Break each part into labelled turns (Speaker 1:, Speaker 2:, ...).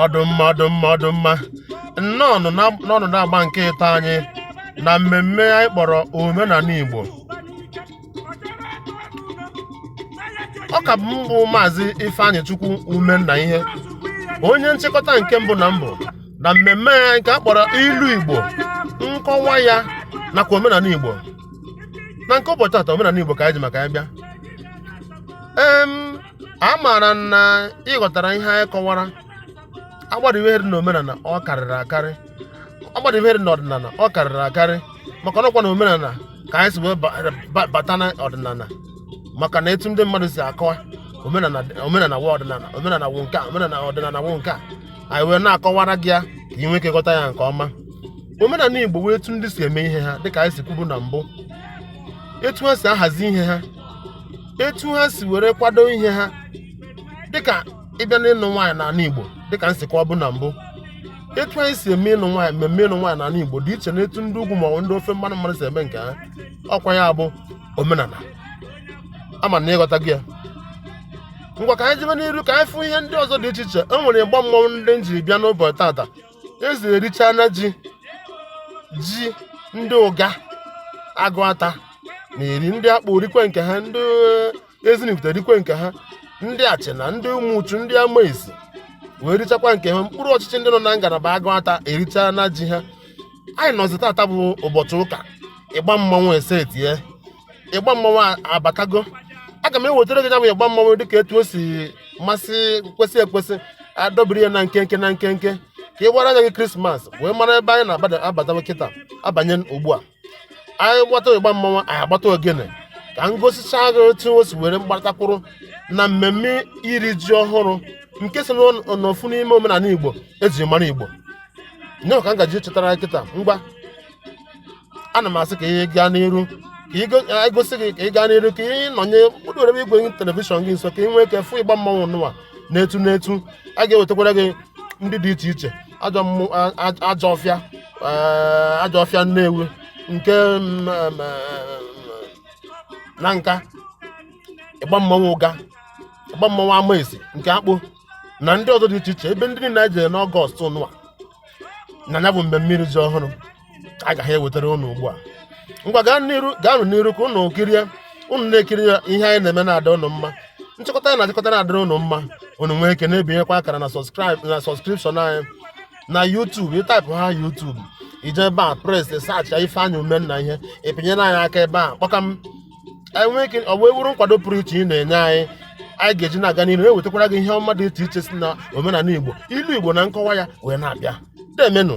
Speaker 1: ọ dụ mma ọ dụ mma ọ dụ mma nnọọ nụ na- nnọọ nụ n'agba nke ịtọ anyị na mmemme anyị kpọrọ omenala igbo ọ ka bụ m bụ maazị ifeanyịchukwu umennaihe onye nchịkọta nke mbụ na mbụ na mmemme anyị nke a kpọrọ ilu igbo nkọwa ya nakwa omenala igbo na nke ụbọchị taa omenala igbo ka anyị ji maka ya bịa em amaara m na ị ghọtara ihe anyị kọwara agbada ihe dị n'omenala ọ karịrị akarị agbada ihe dị n'ọdịnala ọ karịrị akarị maka ọ nọkwa na omenala ka anyị si wee ba- ba- bata na ọdịnala maka na etu ndị mmadụ si akọwa omenala omenala wụ ọdịnala omenala wụ nke a omenala ọdịnala wụ nke a anyị wee na-akọwara gị ya ka ị nwee ike ghọta ya nke ọma omenala igbo wụ etu ndị si eme ihe ha dịka anyị si kwubu na mbụ etu ha si ahazi ihe ha etu ha si were kwado ihe ha dịka ị bịa n'ịnụ nwaanyị n'ala Igbo dịka m si kọwabu na mbụ etu anyị si eme ịnụ nwaanyị mmemme ịnụ nwaanyị n'ala Igbo dị iche na etu ndị ugwu maọbụ ndị ofe mmanụ mmanụ si eme nke ha ọ kwa ya bụ omenala ama m na ị ghọtago ya ngwa ka anyị jebe n'iru ka anyị fụ ihe ndị ọzọ dị iche iche e nwere ịgba mmọnwụ ndị m jiri bịa n'ụbọchị tata eze erichaana ji ji ndị uga agụata na-eri ndị akpo rikwe nke ha ndị ezinifite rikwe nke ha ndị achina ndị umuchu ndị amesi wee richakwa nke ha okpuru ọchịchị ndị nọ na ngalaba agụata erichaana ji ha anyị nọzi tata bụ ụbọchị ụka ịgba mmanwụ esetie ịgba mmanwụ abatago aga m ewetara gị ya bụ ịgba mmanwụ dịka etu o si masị kwesị ekwesị adọbiri ya na nkenke na nkenke ka ị gbara anya gị krismas wee mara ebe anyị na-abatawa kịta abanye ugbu a anyị gbata ịgba mmanwụ anyị agbata ogene ka m gosicha gị otu o si were batakwuru na mmemme iri ji ọhụrụ nke so n'ofu n'ime omenala igbo e ji mara igbo ya ka m ga-eji chetara kịta ngwa ana m asị ka ị gaa n'iru ka e gosi gị ka ị gaa n'iru ka ị nọnye nọdewere m igwe telivishọn gị nso ka ị nwee ike fụ ịgba mmanwụ nụwa na etu na etu a ga-ewetakwara gị ndị dị iche iche ajọ ọfịa ajọ ọfịa nnewi nke mm, mm, nanka ịgba mmanwụ uga ịgba mmanwụ amesi nke akpo na ndị ọzọ dị iche iche ebe ndị niile anyị jere n'ọgọst nụwa na ya bụ mmemme iri ji ọhụrụ agaghị ewetara ụnụ ugbu a ngwa gaanụ n'iru ka ụnụ kirie ụnụ na-ekiri ihe anyị na-eme na-adị ụnụ mma nchịkọta anyị na-achịkọta na-adịrị ụnụ mma ụnụ nwee ike na-ebinyekwa akara na sọskraịb na sọskripshọn anyị na YouTube ị taịpụ na YouTube ije ebe a pres saachị Ifeanyị Umennaihe ị pịnyere anyị aka ebe a kpọkam anyị nwee ike ọ wee wuru nkwado pụrụ iche ị na-enye anyị anyị ga-eji na-aga n'ihu ewetakwara gị ihe ọma dị iche iche si na omenala Igbo ilu Igbo na nkọwa ya wee na-abịa deemenụ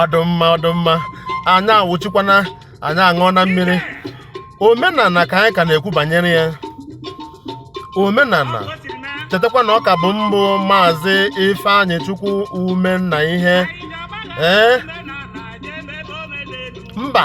Speaker 1: ọ dụ mma ọ dụ mma anyị awụchikwana anyị aṅụọna mmiri omenala ka anyị ka na-ekwu banyere ya omenala chetakwa na ọ ka bụ m bụ maazị ifeanyịchukwu umennaihe ee mba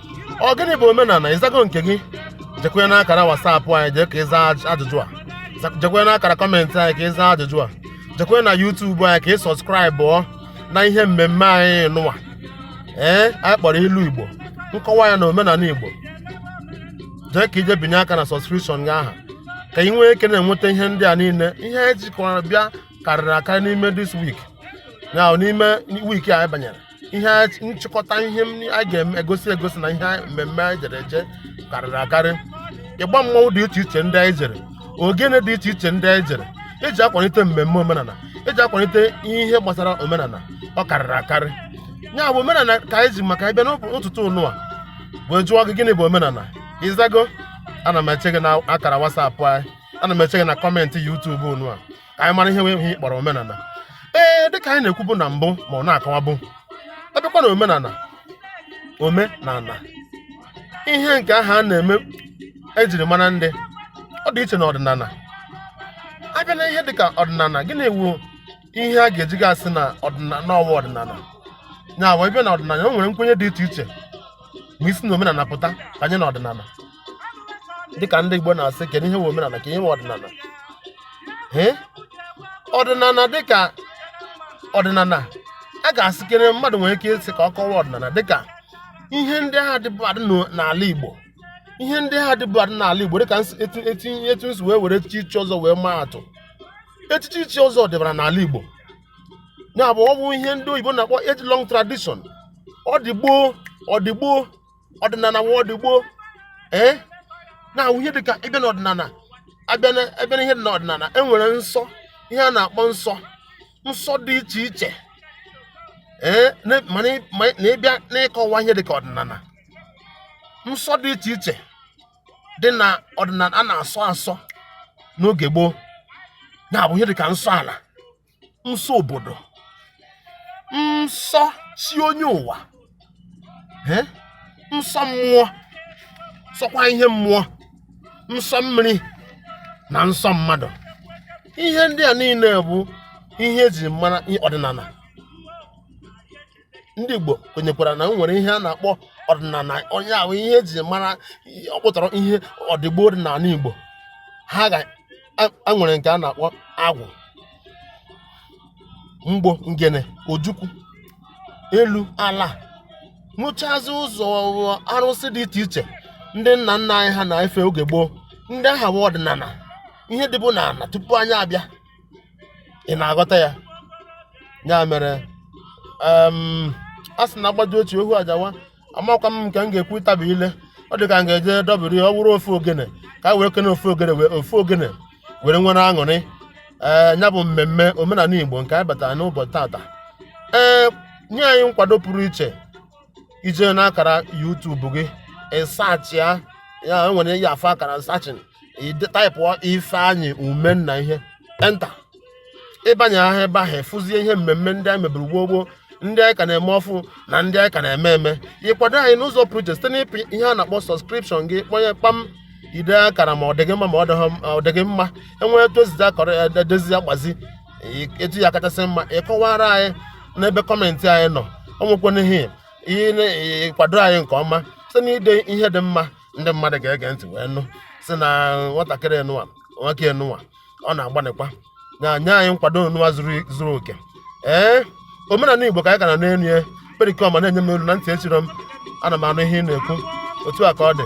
Speaker 1: ọ gịnị bụ omenala ị zago nke gị jekwe n'akara wasapụ anyị jee ka ị zaa aj- ajụjụ a Za- jekwe n'akara kọmentị anyị ka ị zaa ajụjụ a jekwe na yutubu anyị ka ị sọskraịbụọ na ihe mmemme anyị nụwa ee anyị kpọrọ ilu igbo nkọwa ya na omenala igbo jee ka i je binye aka na sọskripshọn gị aha ka ị nwee ike na-enweta ihe ndị a niile ihe anyị jikọrọ bịa karịrị akarị n'ime this week ya n'ime week a anyị banyere ihe nchịkọta ihe a ga-egosi egosi na ihe mmemme anyị jere eje karịrị akarị ịgba mmanwụ dị iche iche ndị anyị jere ogene dị iche iche ndị anyị jere eji akwalite mmemme omenala eji akwalite ihe gbasara omenala ọ karịrị akarị ya bụ omenala ka anyị ji maka ya bịa n'ụtụtụ nụwa wee jụọ gị gịnị bụ omenala ị zago ana m eche gị na akara wasapụ anyị ana m eche gị na kọmentị yutubu nụwa ka anyị mara ihe wụ ihe a kpọrọ omenala ee dịka anyị na-ekwubu na mbụ ma na-akọwabu a bịakwa na omenala ome na ala ihe nke ahụ a na-eme ejiri mara ndị ọ dị iche na ọdịnala a bịa na ihe dịka ọdịnala gịnị wu ihe a ga-eji ga-asị na ọdịnala na ọ wụ ọdịnala ya wụ a bịa na ọdịnala o nwere nkwenye dị iche iche ma e si na omenala pụta banye na ọdịnala dịka ndị Igbo na-asị kedu ihe wụ omenala ka ihe wụ ọdịnala ọdịnala dịka ọdịnala a ga-asị kere mmadụ nwere ike ịsị ka ọ kọwaa ọdịnala dịka ihe ndị ahụ dịbu adị n'ala Igbo ihe ndị ahụ dịbu adị n'ala Igbo dịka etinye etu m si wee were echichi ichi ọzọ wee maa atụ echichi ichi ọzọ dịbara n'ala Igbo ya bụ ọ bụ ihe ndị oyibo na-akpọ age long tradition ọ dị gboo ọ dị gboo ọdịnala wụ ọdịgboo ee na-abụ ihe dịka ịbịa n'ọdịnala a bịa n'ihe dị n'ọdịnala e nwere nsọ ihe a na-akpọ nsọ nsọ dị iche iche ee na ịbịa n'ịkọwa ihe dịka ọdịnala nsọ dị iche iche dị na ọdịnala a na-asọ asọ n'oge gboo na-abụ ihe dịka nsọ ala nsọ obodo nsọ chi onye ụwa nsọ mmụọ nsọkwa ihe mmụọ nsọ mmiri na nsọ mmadụ ihe ndị a niile bụ ihe eji mara ọdịnala ndị Igbo kwenyekwara na e nwere ihe a na-akpọ ọdịnala onye ahụ ihe eji mara ọ pụtara ihe ọdịgboo dị n'ala Igbo ha ga nwere nke a na-akpọ agwụ mgbo ngene ojukwu elu ala wụchazi ụzọ arụsị dị iche iche ndị nna nna anyị ha na-efe oge gboo ndị aha bụ ọdịnala ihe dịbu n'ala tupu anyị abịa ị na-aghọta ya ya mere a sị na agbaju otu ohu ajawa amakwa m nke m ga-ekwu ịtabi ile ọ dị ka m ga-eje dọbiri ọ bụrụ ofu ogene ka a wee kene ofu ogene were nwere aṅụrị ee ya bụ mmemme omenala Igbo nke anyị batara n'ụbọchị tata ee nye anyị nkwado pụrụ iche i jee n'akara YouTube gị ị sachịa ya were ya afọ akara searching taịpụọ Ifeanyị Umenna hit enter ị banye ahụ ebe ahụ ị fụzie ihe mmemme ndị anyị meburu gboo gboo ndị anyị ka na-eme ọfụụ na ndị anyị ka na-eme eme ịkwado anyị n'ụzọ pụrụ iche site n'ịpị ihe a na-akpọ subscription gị kpọnye kpam ide akara ma ọ dị mma ma ọ dịghị mma e nwee etu o sizi akọrọ ya e dozie ya gbazi etu ya kachasị mma ị kọwara anyị n'ebe comment anyị nọ ọ nwekwana ihe ịkwado anyị nke ọma site n'ide ihe dị mma ndị mmadụ ga-ege ntị wee nụ sị na nwatakịrị enụwa nwoke enụwa ọ na-agbanịkwa na-enye anyị nkwado enụwa zuru oke ee omenala Igbo ka anyị ka nọ n'elu ya Perikoma na-enye m olu na ntị echiro m ana m anụ ihe ị na-ekwu otu a ka ọ dị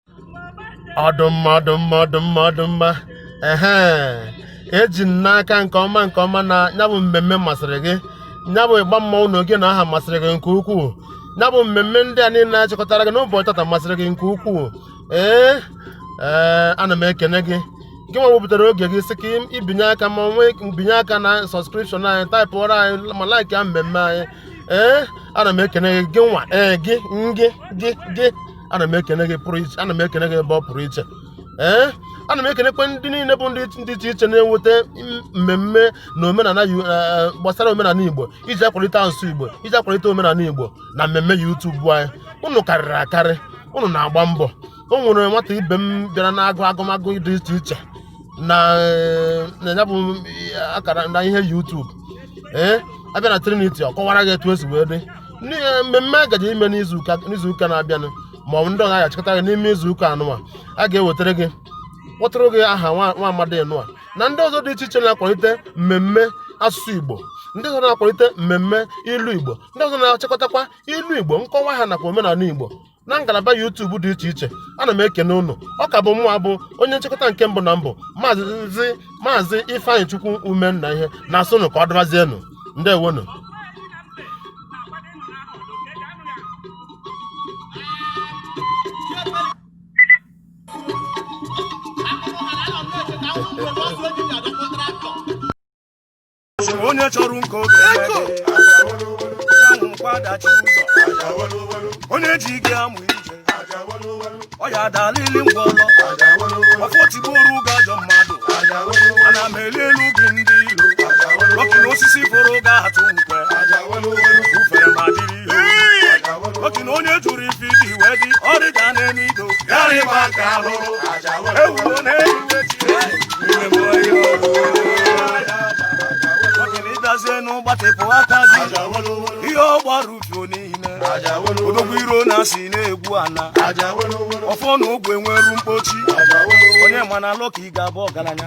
Speaker 1: ọdụmma ọdụmma ọdụmma ọdụmma ehe eji m n'aka nke ọma nke ọma na ya bụ mmemme masịrị gị ya bụ ịgba mmanwụ na oge na aha masịrị gị nke ukwuu ya bụ mmemme ndị a niile achịkọtara gị n'ụbọchị tata masịrị gị nke ukwuu ee ee ana m ekene gị gị nwa wepụtara oge gị sị ka ibinye aka ma nwee mbinye aka na sọskripshọn anyị taịpụọrọ anyị ma laiki ya mmemme anyị ee ana m ekene gị gị nwa ee gị gị gị gị ana m ekene gị pụrụ iche ana m ekene gị ebe ọ pụrụ iche ee ana m ekenekwe ndị niile bụ ndị dị iche iche na-eweta mmemme na omenala gbasara omenala igbo iji akwalite asụsụ igbo iji akwalite omenala igbo na mmemme YouTube anyị unu karịrị akarị unu na-agba mbọ o nwere nwata ibe m bịara na-agụ agụmagụ dị iche iche na ya bụ akara na ihe YouTube ee a bịa na Trinity ọ kọwara gị etu esi wee dị n'ihe mmemme a gaji ime n'izuụka n'izuụka na-abịanụ ma ọ bụ ndị ọ ga-achịkọta gị n'ime izuụka anụwa a ga-ewetara gị kpọtụrụ gị aha nwa nwa amadi nụwa na ndị ọzọ dị iche iche na-akwalite mmemme asụsụ igbo ndị ọzọ na-akwalite mmemme ilu igbo ndị ọzọ na-achịkọtakwa ilu igbo nkọwa ha nakwa omenala igbo na ngalaba YouTube dị iche iche ana m ekene unu ọ ka bụ mụnwa bụ onye nchịkọta nke mbụ na mbụ maazị maazị Ifeanyịchukwu Umenna ihe na-asụnụ ka ọ dịbazienụ ndewonụ
Speaker 2: onye chọrọ nke oge kwadachi onye ji gị amụ ije ọ ya adalịlị ngwọlọ ọfọ tigbuoru ụga ajọ mmadụ ana m eli elu gị ndị ilo ọkụ na osisi foro ga atụ nkwe ufere ma dịrị ihe ọkụ na onye jụrụ ife iji wee dị ọrịda na-eme ido ịbịazie n'ụgbatịpụ aka gị ihe ọ gbara ufio niile odogwu iro na asị na-egbu ana ọfọ na ogu enwerọ mkpochi onye ma na alụ ka ị ga-abụ ọgalanya